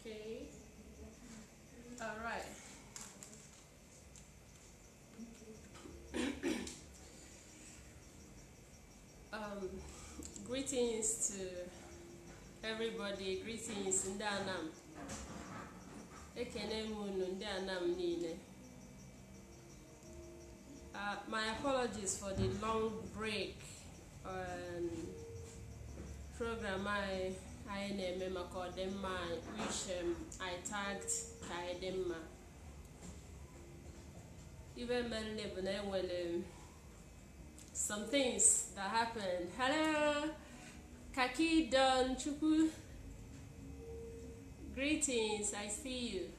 Okay. All right. um, greetings to everybody. Greetings, ndị Anam. Ekene m unu ndị Anam niile. Uh, my apologies for the long break um, program anyị anyị na-eme maka ọdịmma anyị which um, I tagged ka anyị dị mma ive mere bụ na enwere some things that happened hello kaki don chukwu greetings I see you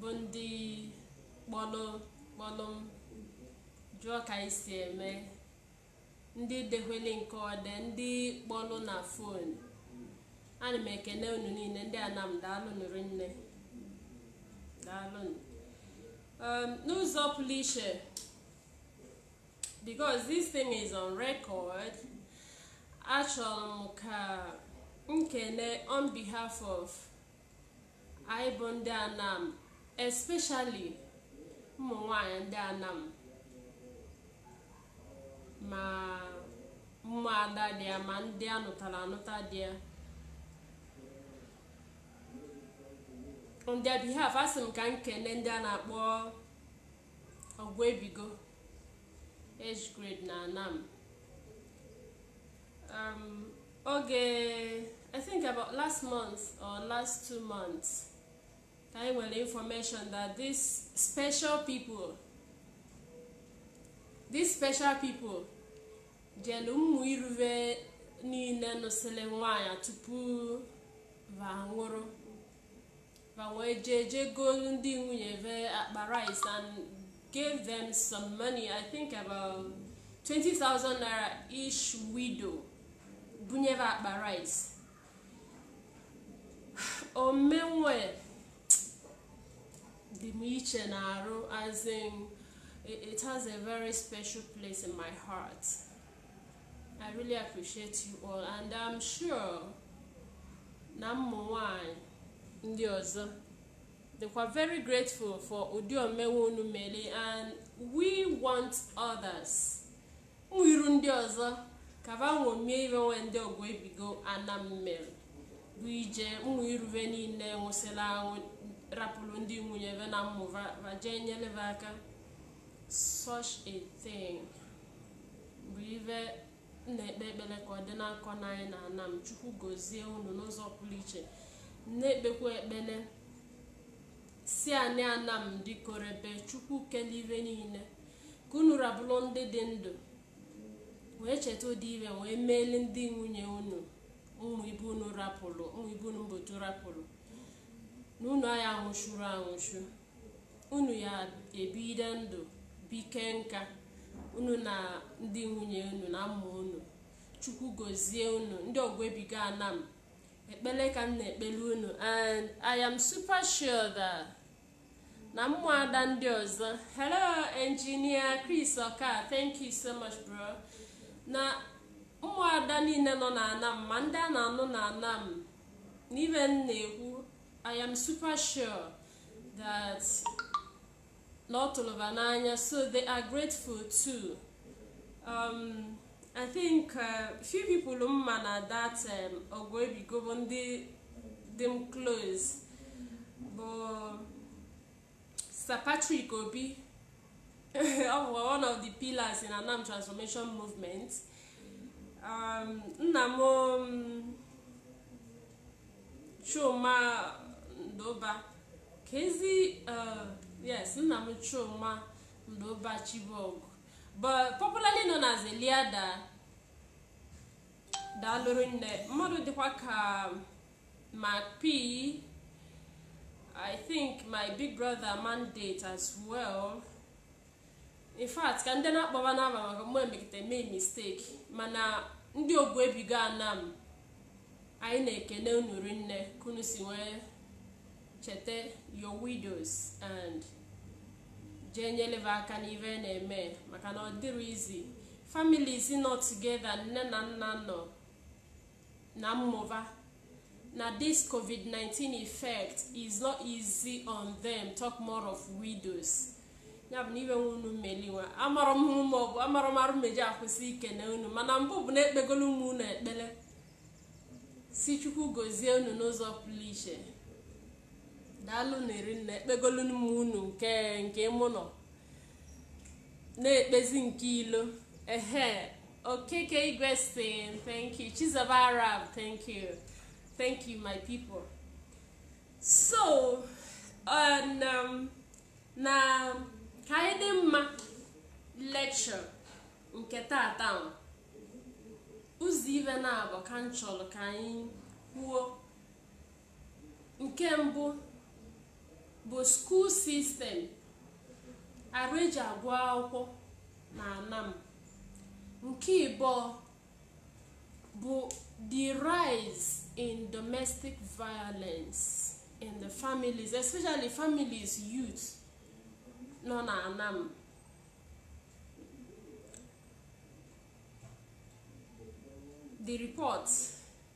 bụ ndị kpọlụ kpọlụ m jụọ ka anyị si eme ndị dekwele nke ọde ndị kpọlụ na fon ana m ekene unu niile ndị anam daalụnụ rinne daalụnụ um, n'ụzọ pụrụ iche because this thing is on record achọrọ m ka m kene on behalf of Anyị bụ ndị Anam, especially ụmụ nwanyị ndị Anam ma mmụ ada dị ya ma ndị a nụtara anụta dị ya on their behalf asị m ka m kene ndị a na-akpọ Ọgụ Ebigo age grade na Anam Um, oge I think about last month or last two months ka anyị nwere information that these special people these special people jelu mmụ iruve niile nụsịrị nwaanyị tupu va nwụrụ Ma wee jee jee goolu ndị nwunye ve akpa rice and gave them some money I think about 20,000 naira each widow bunyere akpa rice ome nwe dị m iche na arụ as in it has a very special place in my heart I really appreciate you all and I'm sure na mmụ nwanyị ndị ọzọ dịkwa very grateful for ụdị ome nwe unu mere and we want others iru ndị ọzọ ka va nwomie ive nwe ndị Ọgụ Ebigo Anam mere bụ ije ụmụ iruve niile nwụsịrị anwụ rapụrụ ndị nwunye ve na mmụ va va jee nyele ve aka such a thing bụ ive na-ekpe ekpere ka ọ dịna akọ na anyị na anam chukwu gozie unu n'ụzọ pụrụ iche na-ekpekwa ekpere si anị ana m dị korebe chukwu kele ive niile ka unu rabụrụ ndị dị ndụ wee cheta ụdị ive wee meeli ndị nwunye unu ụmụ ibe unu rapụrụ ụmụ ibe unu mbotu rapụrụ na unu aya anwụchuru anwụchu unu ya-ebide ndụ bike nka unu na ndị nwunye unu na ụmụ unu chukwu gozie unu ndị ọgụ ebigo anam ekpele ka m na-ekpele unu and i am super sure that na mmụada ndị ọzọ hello engineer chris oka thank you so much bro na mmụada niile nọ na anam ma ndị a na-anụ na anam n'ive m na-ekwu i am super sure that na ọ tụrụ va n'anya so they are grateful too um, I think uh, few people m ma na that um, ọgụ ebigo bụ ndị dị m close bụ Sir Patrick Obi ọ bụ one of the pillars in Anam Transformation Movement um, nna m um, Chuma Ndoba ka ezi uh, yes nna m Chuma Ndoba Chibok but popularly known as Eliada daalụ rinne mmadụ dịkwa ka Mac P I think my big brother mandate as well. In fact, ka m dịna akpọ va n'ava maka mgbe m mekata mee mistake mana ndị ọgụ ebigo anam anyị na-ekene unu rinne ka unu si wee cheta your widows and jee nyele va aka n'ive na-eme maka na ọ dịrọ easy families nọ together nne na nna nọ na ụmụ va na this covid-19 effect is not easy on them talk more of widows ya bụ na ive nwa unu meli wa amarọ m hụ maọbụ amarọ m arụ m eji akwụsị ikene unu mana mbụ bụ na ekpegolu m unu ekpele sị chukwu gozie unu n'ụzọ pụrụ iche daalụ nụ rinne ekpegolu m unu nke nke m unu na-ekpezi nke ilo ehe okeke igwe sin thank you chizoba arab thank you thank you my people so on, um, na ka anyị dị mma lecture nke tata ụzọ ive naabọ ka m chọrọ ka anyị kwuo nke mbụ bụ school system arụ eji agụ akwụkwọ na anam nke ịbụọ bụ the rise in domestic violence in the families especially families youth nọ na anam the report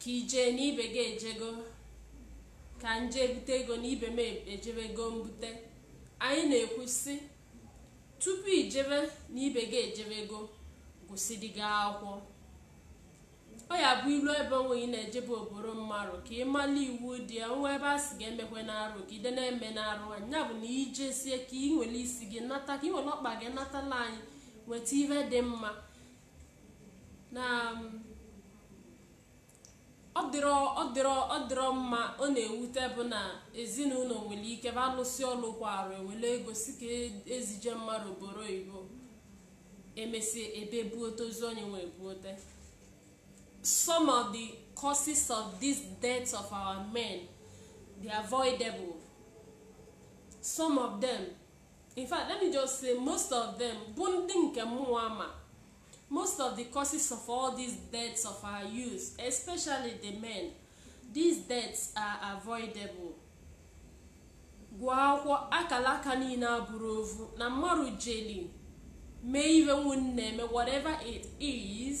ka i je na ibe gị ejego ka m je ebute ego na ibe m ejebego mbute anyị na-ekwu sị tupu i jebe na ibe gị ejebego gụsịdị gị akwụkwọ ọ ya-abụ i lu ebe nwe ị na-ejebe oboro mmarụ ka ị mala iwu dị ya nwa ebe a sị gị emekwe n'arụ ka ide na-eme n'arụ anyị ya bụ na i jesie ka ị were isi gị nata ka ị were ọkpa gị natala anyị weta ive dị mma na um, ọ dịrọ ọ dịrọ ọ dịrọ mma ọ na-ewute bụ na ezinụlọ nwere ike ba alụsị ọlụ kwa arụ ewere ego sị ka e- ezije mmarụ oboro oyibo emesi ebe buote ozu onye nwe buote some of the causes of these deaths of our men they're avoidable some of them in fact let me just say most of them bụ ndị nke mụnwa ma most of the causes of all these deaths of our youth especially the men these deaths are avoidable gụọ akwụkwọ akala aka niile abụrọ ovu na mmarụ jeli mee ive unu na-eme whatever it is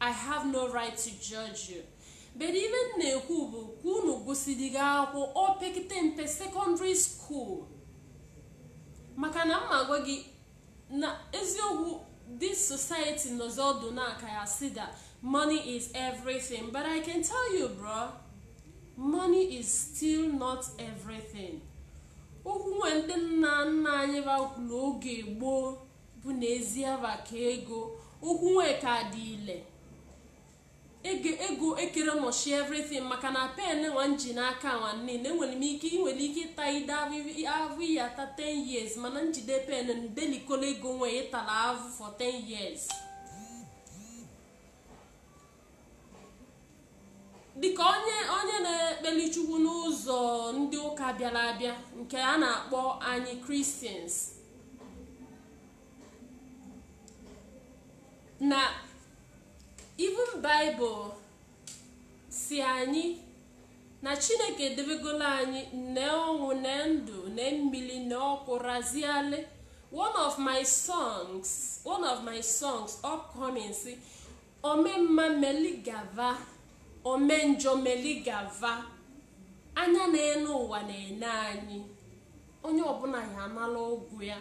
I have no right to judge you. But ive m na-ekwu bụ ka unu gụsiri gị akwụkwọ o pekite mpe secondary school maka na m ma gwa gị na eziokwu this society nọzi ọdụ na-aka ya sị that money is everything but I can tell you bro money is still not everything okwu nwe ndị nna nna anyị ba kwuru oge gboo bụ na ezi ava ka ego okwu nwee ka dị ile ego ekere nọchi everything maka na pen nwa m ji n'aka nwa niile enwere m ike ị nwere ike ịta ide avụ ị ya-ata 10 years mana m jide pen delikolo ego nwee ị tara avụ for 10 years dịka onye onye na-ekpeli chukwu n'ụzọ ndị ụka bịara abịa nke a na-akpọ anyị Christians na even bible sị anyị na chineke edebegolo anyị nee ọnwụ nee ndụ nee mmiri nee ọkụ raziale one of my songs one of my songs upcoming sị Ome mma meli gava, ome njọ meli gava. Anya na-ene ụwa na-ene anyị. Onye ọbụna ya anala ụgwọ ya.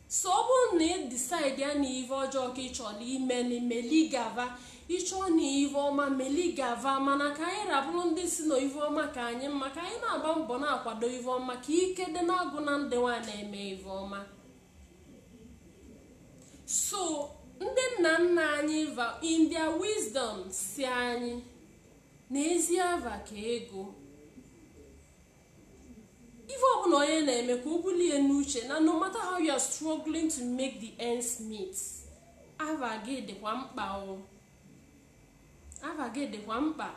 So ọ bụrụ na ị decide ya na ive ọjọọ ka ị chọrọ ime na meli gava, ị chọọ na ive ọma meli gava mana ka anyị rabụrụ ndị sị na ive ọma ka anyị mma ka anyị na-agba mbọ na-akwado ive ọma ka ike dị na agwụna ndị nwa na-eme ive ọma. so ndị nna nna anyị va in their wisdom sị anyị na ezi ava ka ego ive ọbụna onye na-eme ka o bulie n'uche na no matter how you are struggling to make the ends meet ava gị dịkwa mkpa o ava gị dịkwa mkpa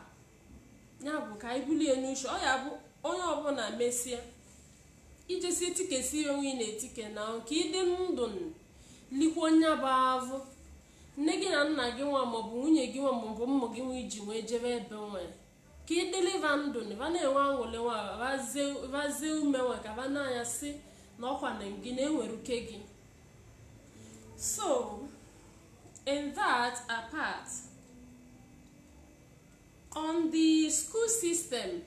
ya bụ ka anyị bulie n'uche ọ ya bụ onye ọbụna mesịa ijesi etikesi ya onwe ị na-etike na ka ịdị ndụ likwa onye bụ avụ nne gị na nna gị nwa maọbụ nwunye gị nwa maọbụ ụmụ gị nwa i ji wee jebe ebe nwere ka ị dịlị va ndụ na va na-enwe aṅụlị nwa vazie ume nwe ka va na-asị na ọkwa na gị na-enwere uke gị so in that apart on the school system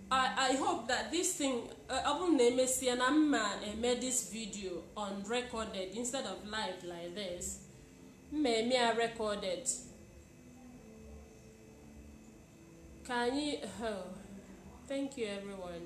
I, I hope that this thing uh, ọ bụrụ na emesịa na m ma-eme uh, this video on recorded instead of live like this m ma-eme ya recorded ka anyị oh, thank you everyone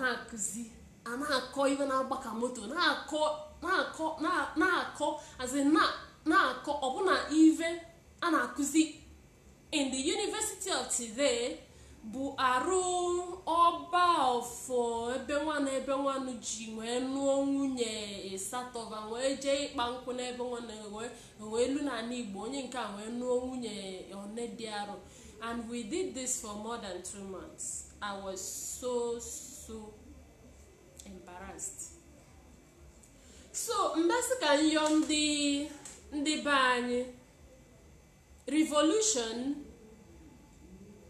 na-akụzi a na-akọ ive na-agba ka moto na-akọ na-akọ na-akọ azi na-akọ ọbụna ive a na-akụzi in the university of today bụ arụ ọba of ebe nwa ebe nwanụ ji wee nụọ nwunye ịsatọ va wee jee ịkpa nkụ n'ebe nwa wee lue n'anị igbo onye nke a wee nụọ nwunye one dị arụ And we did this for more than two months. I was so, so embarrassed. So, mbasị ka nyọ ndị ndị be anyị revolution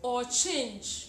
or change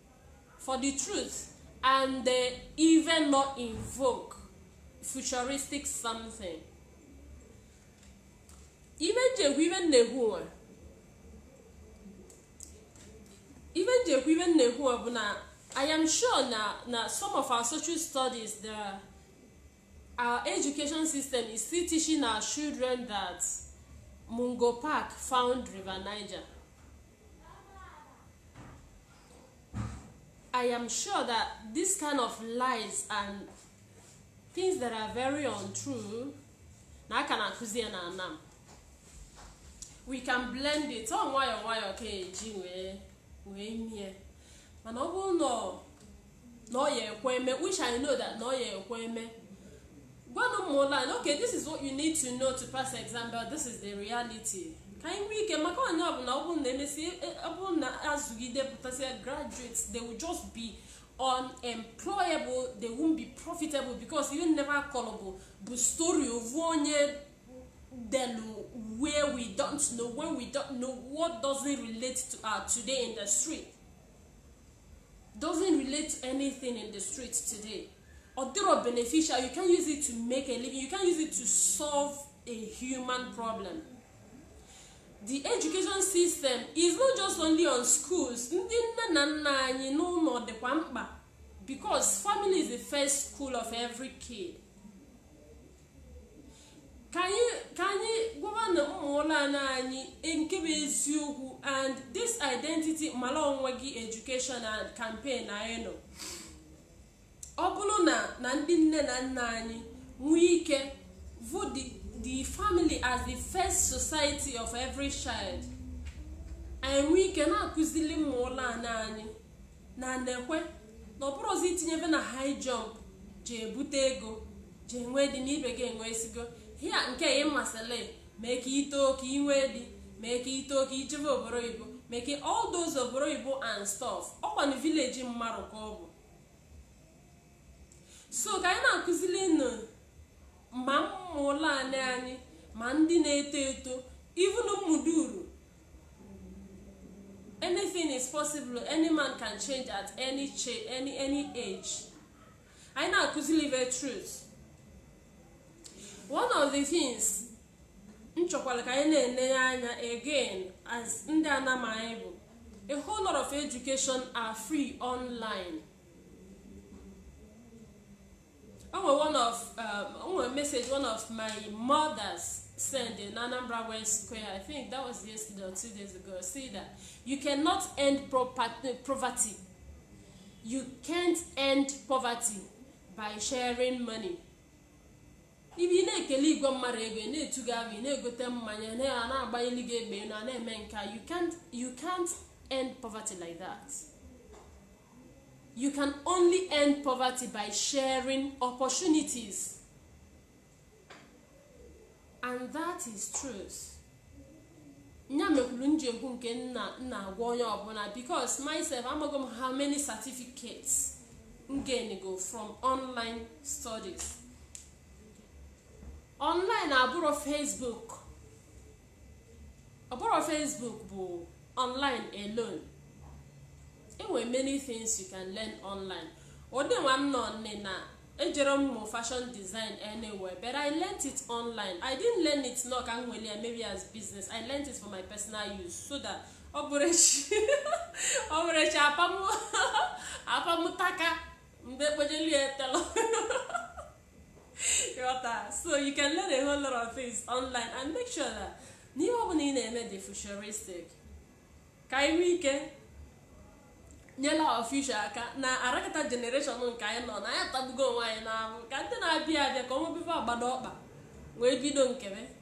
for the truth and they even not invoke futuristic something ive m ji ekwu ive m na-ekwu nwa ive m ji ekwu ive m na-ekwu nwa bụ na i am sure na na some of our social studies the our education system is still teaching our children that mungo park found river niger I am sure that this kind of lies and things that are very untrue na a ka na-akụzi ya na anam we can blend it ọ nwayọọ nwayọọ ka e ji wee wee mie mana ọ bụrụ na na ọ ya ekwe eme which i know that na ọ ya ekwe eme gwanụ ụmụ ụlọ anyị okay this is what you need to know to pass exam but this is the reality ka anyị nwee ike maka onye ọbụla ọ bụrụ na emesi ọ bụrụ na azụgide pụtasịa graduates they will just be unemployable they won't be profitable because ive a na-akọlụ va bụ story ovu onye delu where we don't know when we don't know what doesn't relate to our today industry doesn't relate to anything in the street today ọ dịrọ beneficial you can use it to make a living you can use it to solve a human problem the education system is not just only on schools ndị nne na nna anyị n'ụlọ dịkwa mkpa because family is the first school of every kid ka anyị ka anyị gwabanụ ụmụ ụlọ ana anyị e, nke bụ eziokwu and this identity mara onwe gị education and campaign anyị nọ ọ bụlụ na na ndị nne na nna anyị nwee ike vụ the, the family as the first society of every child anyị nwee ike na-akụzili ụmụ ụlọ ana anyị na na-ekwe na ọ bụrọzi itinyebe na high jump ji ebute ego ji enwe di na ibe gị enwesigo hia nke ị masịrị mee ka i too ka ị nwee di mee ka i too ka i jebe obodo oyibo mee ka all those obodo oyibo and stuff ọkwa na village mmadụ ka ọ bụ so ka anyị na-akụzili nụ ma ụmụ ụlọ anyị ma ndị na-eto eto ivunu mmuduru anything is possible any man can change at any, any, any age anyị na-akụzili the truth one of the things m chọkwara ka anyị na-enye anya again as ndị Anam anyị bụ a whole lot of education are free online o nwere one of um, o nwere message one of my mothers send in Anambra West Square I think that was yesterday or two days ago say that you cannot end property, poverty you can't end poverty by sharing money ebe ị na-ekele igwe mmadụ ego ị na-etuga abụ ị na-egote mmanya na na-agbanyelu gị egbe na na-eme nka you can't you can't end poverty like that you can only end poverty by sharing opportunities and that is truth nya mekwulu m ji ekwu nke m na-agwa onye ọbụla because myself amaghị m how many certificates m gainigo from online studies online abụrọ facebook ọ bụrọ Facebook bụ online alone e nwere many things you can learn online ụdị mụnwa nọ nni na ejerọ m mụ fashion design anywhere but i learnt it online i didn't learn it na ọ ka m nwere ya maybe as business i learnt it for my personal use so that ọ bụrụ echi ọ bụrụ echi apa mụ apa mụ taka mgbe ekpojelu ya tailor so you can learn a whole lot of things online and make sure that na ihe ọ bụla ị na-eme dị futuristic ka anyị nwee ike nyela our future aka na arakata generation nke anyị nọ na anyị atagbugo onwe anyị n'ahụhụ ka ndị na-abịa abịa ka ọmụbebe agbado ọkpa wee bido nkebe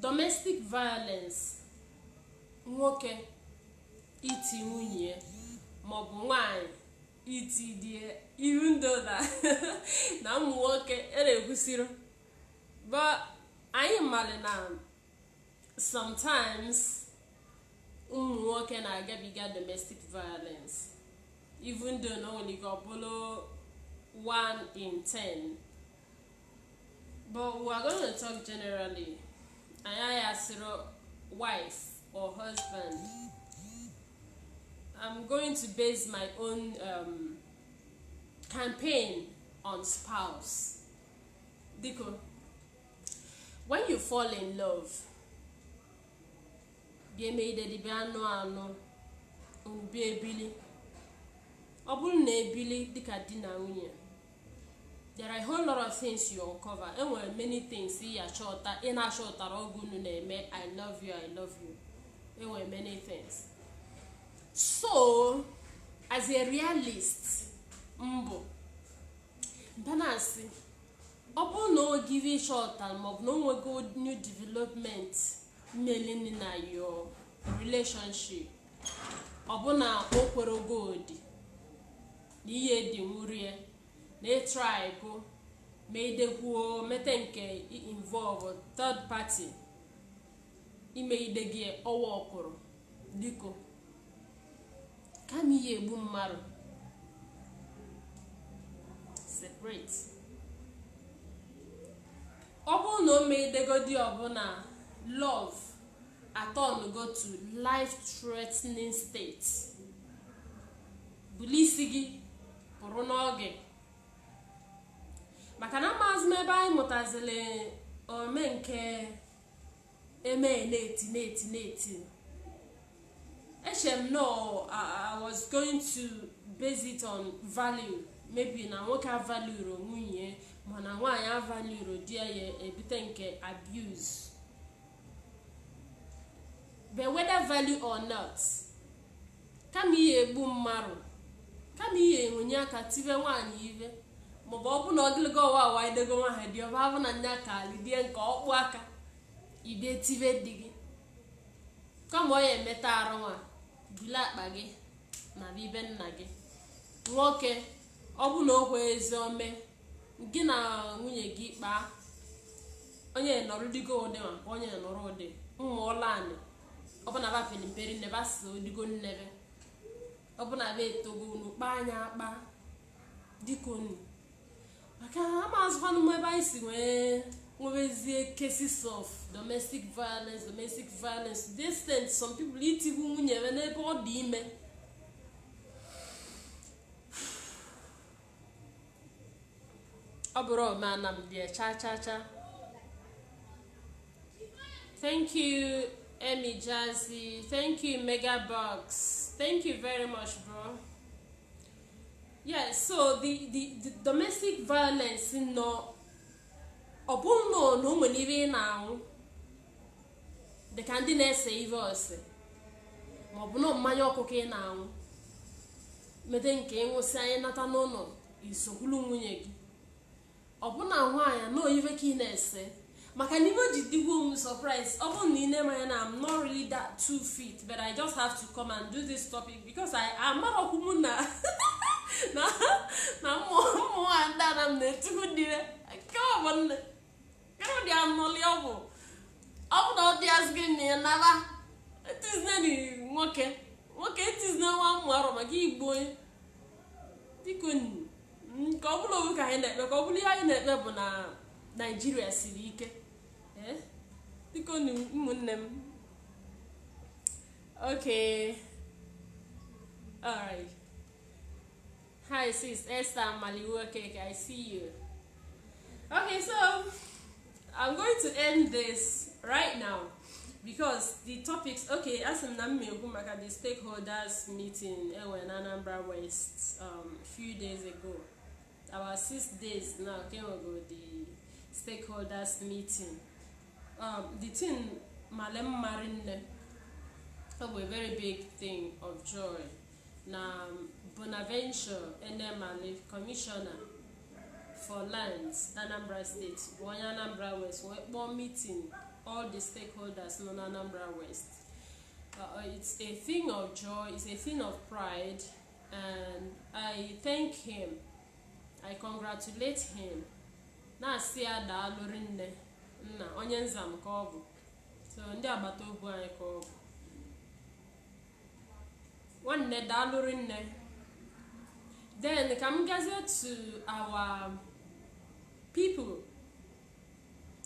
domestic violence nwoke iti nwunye maọbụ nwanyị iti di e iru ndoda na ụmụ nwoke eregwusiri but anyị maara na sometimes ụmụ nwoke na-agabiga domestic violence even though na onwere ike ọ bụrụ 1 in 10 But we are going to talk generally. Anyị asịghị wife or husband. I'm going to base my own um, campaign on spouse. Biko, when you fall in love, bịa emeidedi bịa anụ anụ unu bịa ebili ọ bụrụ na ebili dịka di na nwunye there are a whole lot of things you uncover enwere many things ị ya chọta ị na-achọtara oge unu na-eme i love you i love you enwere many things so as a realist m bụ m na-asị ọ bụrụ na o nwego ive ị chọta maọbụ na o nwego new development melini na your relationship ọ bụ na o kwerọgodi na ihe edinwurie na ị trykwuo meidekwuo mete nke involve third party i meidego ọ workụrọ biko kama ị ya egbu mmadụ separate ọ bụrụ na o meidegodi ọ bụ na love aturnugo to life threatening state buli isi gị pụrụ n'oge maka na amaazị m ebe anyị mụtaziri ome nke eme na-eti na-eti na-eti echere m na I was going to base it on value maybe na nwoke avaluerọ nwunye mana nwaanyị avaluerọ di ya ya ebute nke abuse but whether value or not kama ị ya-egbu mmarụ kama ị ya-ewenye aka tibe nwaanyị ive maọbụ ọ bụ na ogologo ọwa awa idego nwa ha dị ọba abụ na nya ka lidie nke ọkpụ aka ibie tibe di gị kama ị ya-emeta arụ nwa buli akpa gị naa be nna gị nwoke ọ bụ na okwe ezi ome gị na nwunye gị kpaa onye nọrọ digo ụdị ma onye nọrọ ụdị mmụọla anị ọbụna va pere mpe rinne va si odigo nnebe ọbụna va etogo unu kpaa nya akpa dịka unu maka ama azụkwanụ m ebe anyị si wee nwebezie cases of domestic violence domestic violence to the extent some people itigbu nwunye ya n'ebe ọ dị ime ọ bụrọ omenala m dị cha cha cha thank you Emmy Jazzy thank you Mega Box thank you very much bro yes so the the the domestic violence nọ ọ bụrụ na ọ na o nwere ive ị na-aṅụ dịka ndị na-ese ive ose maọbụ na mmanya ọkụ ka ị na-aṅụ mede nke ị ṅụsịa nya nata n'ụnọ isokwulu nwunye gị ọ bụ na nwaanyị na ive ka ị na-ese maka na ive ji digwo m surprise ọ bụrụ na ị na-eme anya na I'm not really that too fit but I just have to come and do this topic because I amarọkwa m na na na mmụọ mmụọ ndị Anam na-etigbu di va nke ọ bụ nne karịa anọli ọgwụ ọ bụ na ọ dị azụ gị na ya nara etizina na nwoke nwoke etizina nwa mmarụ maka igbo onye bikonu mm, ka ọ bụla owu ka anyị na-ekpe ka ọ bụla ihe anyị na-ekpe bụ na Naịjirịa siri ike Eh, bikonu ụmụnne m okay alright Hi sis, Esther Maliwokeke, I see you. Okay, so I'm going to end this right now because the topics, okay, as m na m ekwu maka the stakeholders meeting enwe eh, na Anambra West um, few days ago. Our six days now came ago the stakeholders meeting. Um, the thing Malem Marine, oh, a very big thing of joy. na Bonaventure Enemali commissioner for lands na Anambra State bụ onye Anambra West wee kpọọ meeting all the stakeholders nọ na Anambra West uh, uh, it's a thing of joy it's a thing of pride and I thank him I congratulate him na-asị ya daalụ rinne nna onye Nzam ka ọ bụ so ndị agbata obi anyị ka ọ bụ nwanne daalụ rinne then ka m gazie to our people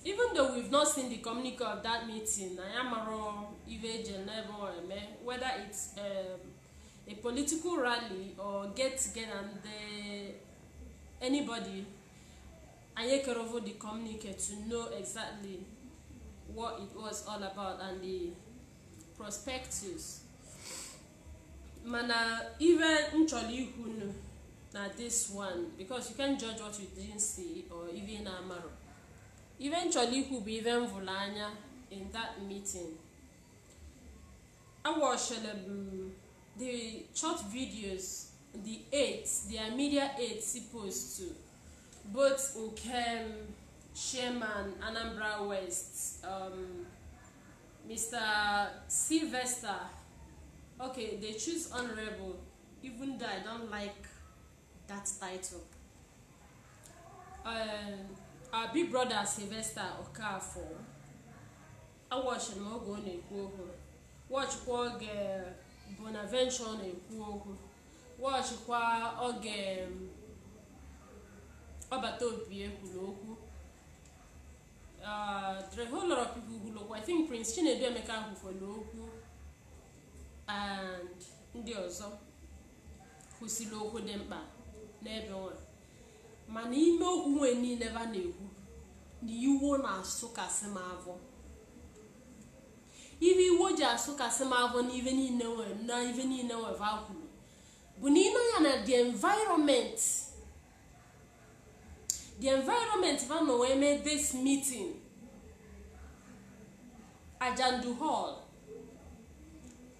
even though we've not seen the communique of that meeting anyị amarọ ive eji n'ebe ọ eme whether it's um, a political rally or get together nke anybody anyị ekerovo the communique to know exactly what it was all about and the prospectus mana ife m chọrọ ikwu nu na this one because you can't judge what you didn't see or ife ị na-amarọ ife m chọrọ ikwu bụ ife m vụrụ anya in that meeting a watchịrị m the short videos the aides their media aides postụrụ both nke um, chairman anambra west um, Mr. Sylvester, okay, they choose honorable, even though I don't like that title. Um, our big brother Sylvester Okafor, I watched him oge ọ na-ekwu okwu, watchkwa oge Bonaventure na-ekwu okwu, watchkwa oge Ọbataobie kwuru okwu. Uh, there are a whole lot of people kwuru okwu. I think Prince Chinedu Emeka ahụ kwuru okwu and ndị ọzọ kwusịrị okwu dị mkpa n'ebe nwa mana ime okwu nwe niile va na-ekwu na iwe na-asụkasị m avọ ive iwe ji asụkasị m avọ na ive niile nwe na ive niile nwe va kwuru bụ na ịnọ ya na the environment the environment va nọ wee mee this meeting ajandu hall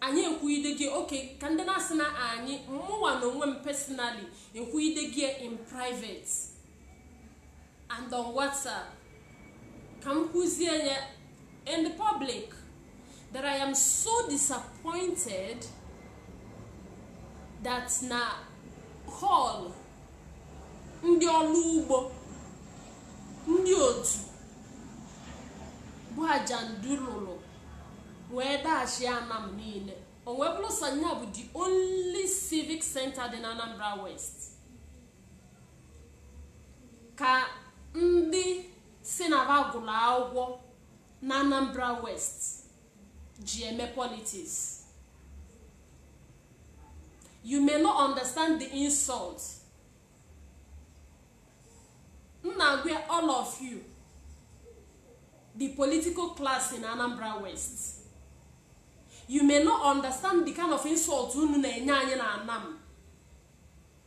anyị ekwuidego ya okay ka ndị na-asị na anyị mụnwa na onwe m personally ekwuidego ya in private and on whatsapp ka m kwuzie ya in the public that I am so disappointed that na hall ndị ọrụ ugbo ndị otu bụ ajandu rụrụ wee dachi anam niile o wee bụrụ sọ nya bụ the only civic center dị na Anambra West ka ndị sị na va gụrụ akwụkwọ na Anambra West ji eme politics you may not understand the insult m na-agwa all of you the political class in Anambra West you may not understand the kind of insult unu na-enye anyị na anam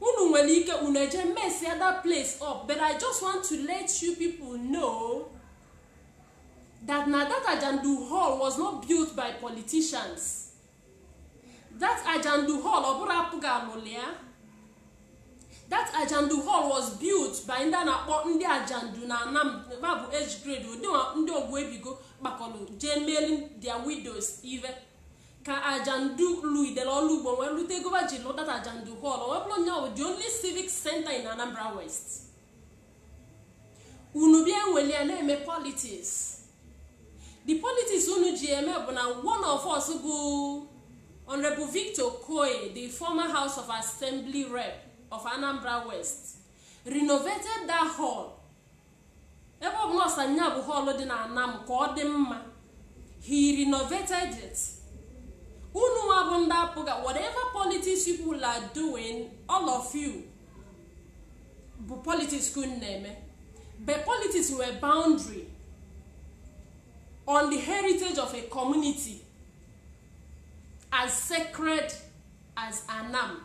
unu nwere ike unu eje mess ya that place up but i just want to let you people know that na that ajandu hall was not built by politicians that ajandu hall ọ bụrọ apga lụlụ ya that ajandu hall was built by ndị a na-akpọ ndị ajandu na anam va bụ age grade ụdị ndị ọgbọ ebigo kpakọrọ jee meeli their widows ive ka ajandu lụgidere ọrụ ugbo wee lụta ego ji lụ that ajandu hall wee bụrụ nya the only civic center in anambra west unu bịa eweli ya na-eme politics the politics unu ji eme bụ na one of us bụ honorable victor okoye the former house of assembly rep of anambra west renovated that hall ebe ọ bụ na ọ sọ nya bụ hall dị na anam ka ọ dị mma he renovated it unu nwa bụ ndị apga whatever politics people are doing all of you bụ politics ka unu na-eme but politics nwere boundary on the heritage of a community as sacred as anam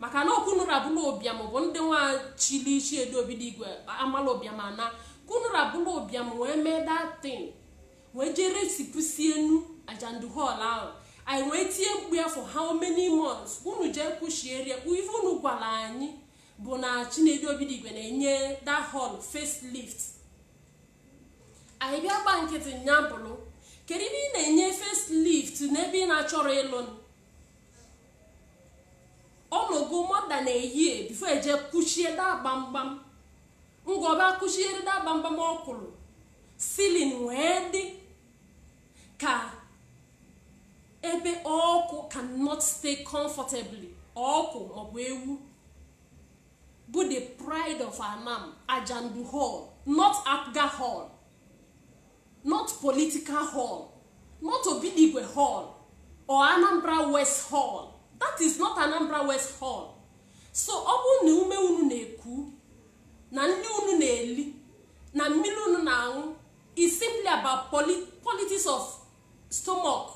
maka na ọ ka unu ra bụrụ ụbịam bụ ndị nwa chili chinedu obidigwe amala ụbịam ana ka unu ra bụrụ ụbịam wee mee that thing wee jee resipusi enu ajandu hall ahụ anyị wee tie mkpu ya for how many months unu jee kwuchierie ife unu gwara anyị bụ na chinedu obidigwe na-enye that hall facelift anyị bịa gba nkịtị nya bụrụ kedu ebe ị na-enye facelift n'ebe ị na-achọrọ ịlụ ọ nọgo more than a year before e jee kuchie that gbamgbam mgbe va kuchiere that gbamgbam o kurọ ceiling wee dị ka ebe ọkụ cannot stay comfortably ọkụ maọbụ ewu bụ the pride of anam ajandu hall not apga hall not political hall not obidigwe hall or anambra west hall that is not anambra west hall so ọ bụrụ na ume unu na-eku na nri unu na-eli na mmiri unu na-aṅụ is simply about poli- politics of stomach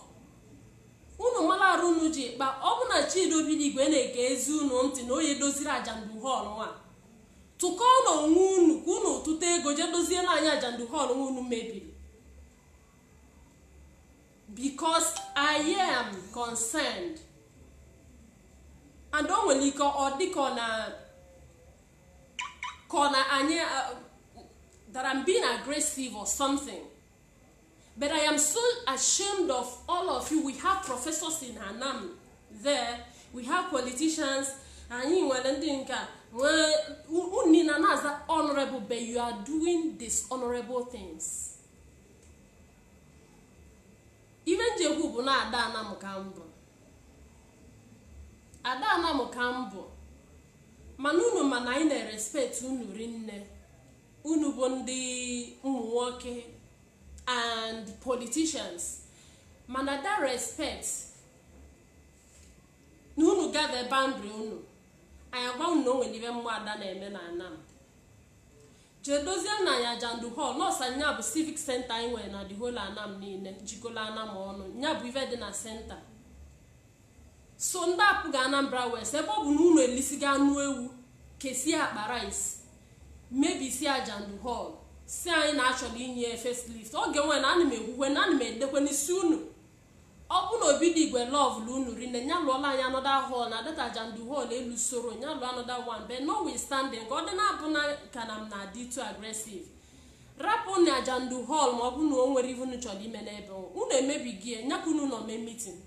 unu mara arụ unu ji kpa ọ bụ na chinedu obidigwe na-egezi unu ntị na onye doziri ajandu hall nwa tụkọọ na onwe unu ka unu tụta ego jee doziere anyị ajandu hall nwa unu mebiri because i am concerned and o nwere ike ọ dị ka ọ na ka ọ na anyị uh, that I'm being aggressive or something But I am so ashamed of all of you. We have professors in Anam there. We have politicians. Anyị nwere ndị nke unu na na-aza honorable but you are doing dishonorable things. Ive m ji ekwu bụ na ada Anam ka m bụ. Ada Anam ka m bụ. Mana unu ma na anyị na-respect unu rinne. unu bụ ndị ụmụ nwoke and politicians mana that respect na unu gather boundary unu anyị agwa unu na o nwere ive ụmụ ada na-eme na anam jee dozie na anyị ajandu hall nọọsọ nya bụ civic center anyị nwere na the whole anam niile jikọla anam ọnụ ya bụ ive dị na center so ndị APGA anambra west ebe ọ bụ na unu elisigo anụ ewu kesie akpa rice mebisie ajandu hall sị anyị na a chọrọ inye facelift oge nwe na ana m ekwukwe na ana m edekwe n'isi unu ọ bụ na obidigwe lọvụlụ unu rinne nya lụọla anyị another hall na that ajandu hall elu soro nya lụọ another one but notwithstanding ka ọ dị na-abụ na ka na m na-adị too aggressive rapụ na ajandu hall ma ọ bụ na o nwere ive unu chọrọ ime n'ebe unu emebisie nya ka unu nọ mee meeting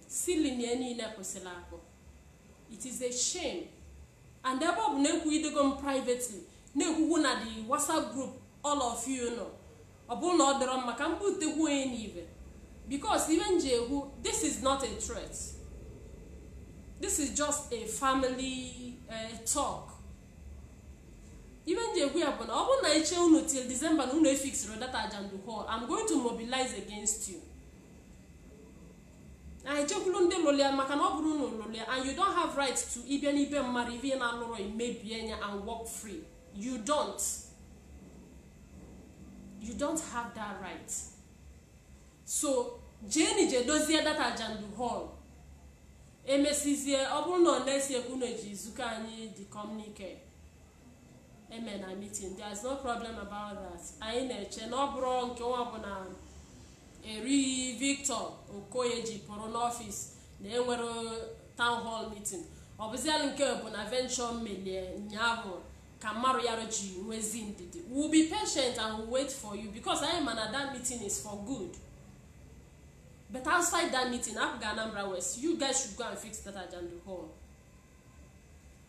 ceiling ya niile kwụsịrị akwụ it is a shame and ebe ọ bụ na ekwugidego m privately na-ekwukwu na the whatsapp group all of you nọ ọ bụrụ na ọ dịrọ m mma ka m butekwu nya n'ibe because ive m ji ekwu this is not a threat this is just a family uh, talk ive m ji ekwu ya bụ na ọ bụrụ na e chee unu till december na unu efixirọ that ajandu hall i'm going to mobilize against you anyị jekwulu ndị lụrụ ya maka na ọ bụrọ unu lụrụ ya and you don't have right to ịbịa n'ibe mmadụ ive ị na-alụrọ mebie nya and walk free you don't you don't have that right so jeni je dozie that ajandu hall emesizie ọ bụrụ na ọ na-esi ekwu na eji izuka anyị the communique eme na meeting there's no problem about that anyị na-eche na ọ bụrụ nke bụ na eri victor okoye ji pụrụ n'office na enwerọ town hall meeting ọ bụziala nke bụ na eventually melie ụnyaahụ ka mmarụ ya ji nwezi ndidi we'll be patient and we'll wait for you because anyị ma na that meeting is for good but outside that meeting APGA anambra west you guys should go and fix that ajandu hall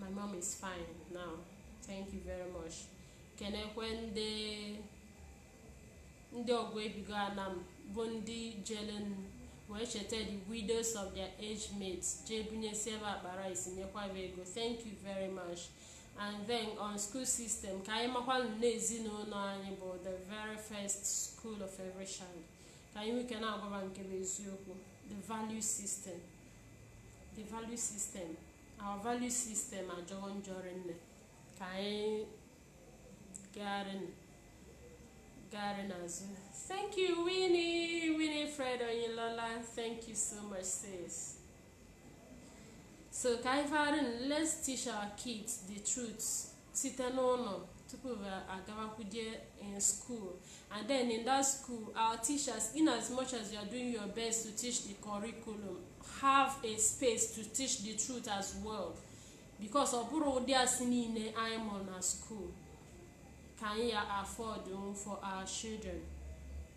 my mom is fine now thank you very much kenekwe ndị ndị ọgbọ ebigo Anam bụ ndị jelenụ wee cheta the widows of their age mates jee bunyesie ba akpa rice nyekwa ba ego thank you very much and then on school system ka anyị makwanụ na ezinụlọ anyị bụ the very first school of every child ka anyị nwee ike na-agwa ba nke bụ eziokwu the value system the value system our value system ajọgo njọ rinne ka anyị gagharịnụ gagharị n'azụ thank you Winnie Winifred Oyinlola thank you so much sis so ka anyị fagharịnụ let's teach our kids the truth site n'ụlọ tupu agabakwuje in school and then in that school our teachers in as much as you are doing your best to teach the curriculum have a space to teach the truth as well because ọ bụrọ ụdị asị niile anyị mụrụ na school ka anyị ya afford for our children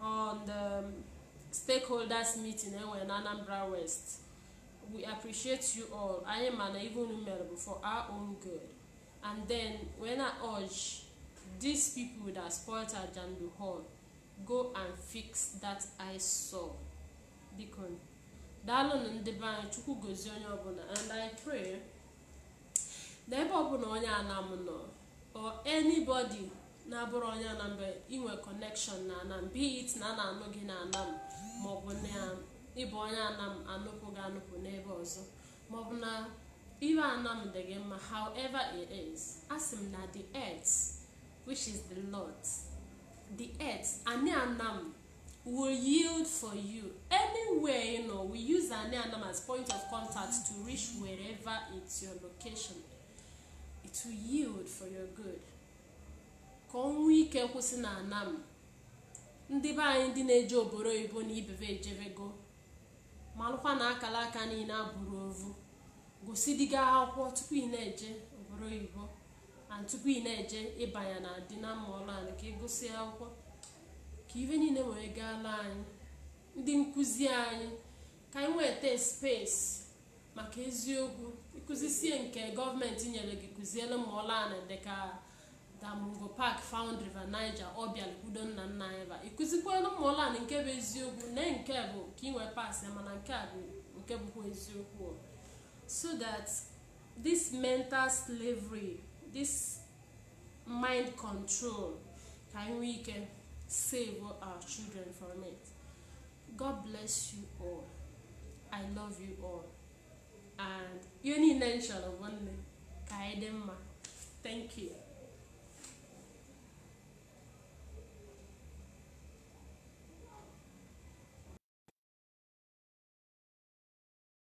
on the um, stakeholders meeting e nwere na Anambra West we appreciate you all anyị ma na ive unu mele bụ for our own good and then wee na-urge these people that spoiled Ajandu Hall go and fix that ASAP biko daalụnụ ndị be anyị Chukwu gozie onye ọbụla and I pray na ebe ọbụla onye Anam nọ or anybody na-abụrọ onye Anam i nwee connection na Anam be it na a na-anụ gị na Anam maọbụ na ị bụ onye Anam a nụpụ gị anụpụ n'ebe ọzọ maọbụ na ive Anam dị gị mma however it is a sị m na the earth which is the Lord the earth anị Anam will yield for you anywhere ị nọ we use anị Anam as point of contact to reach wherever is your location it will yield for your good ka ọ nwee ike kwụsị na Anam ndị be anyị ndị na-eje obodo oyibo na ibe ba ejebego malụkwa na akala aka niile abụrọ ovu gụsịdigo akwụkwọ tupu ị na-eje obodo oyibo and tupu ị na-eje ịbanye na di na mma ọrụ anyị ka ị gụsị akwụkwọ ka ive niile wee gaala anyị ndị nkụzi anyị ka anyị nweta space maka eziokwu ị kụzisie nke gọọmenti nyere gị kụziere ma ọla ana dịka na Mungo Park found River Niger ọbịala udo nna nna anyị ba ị kụzikwere ma ọla ana nke bụ eziokwu na nke bụ ka ị wee paasị mana nke a bụ nke bụkwa eziokwu so that this mental slavery this mind control ka anyị nwee ike save our children from it God bless you all. I love you all. And ihe niile m chọrọ bụ nne ka anyị dị mma. Thank you.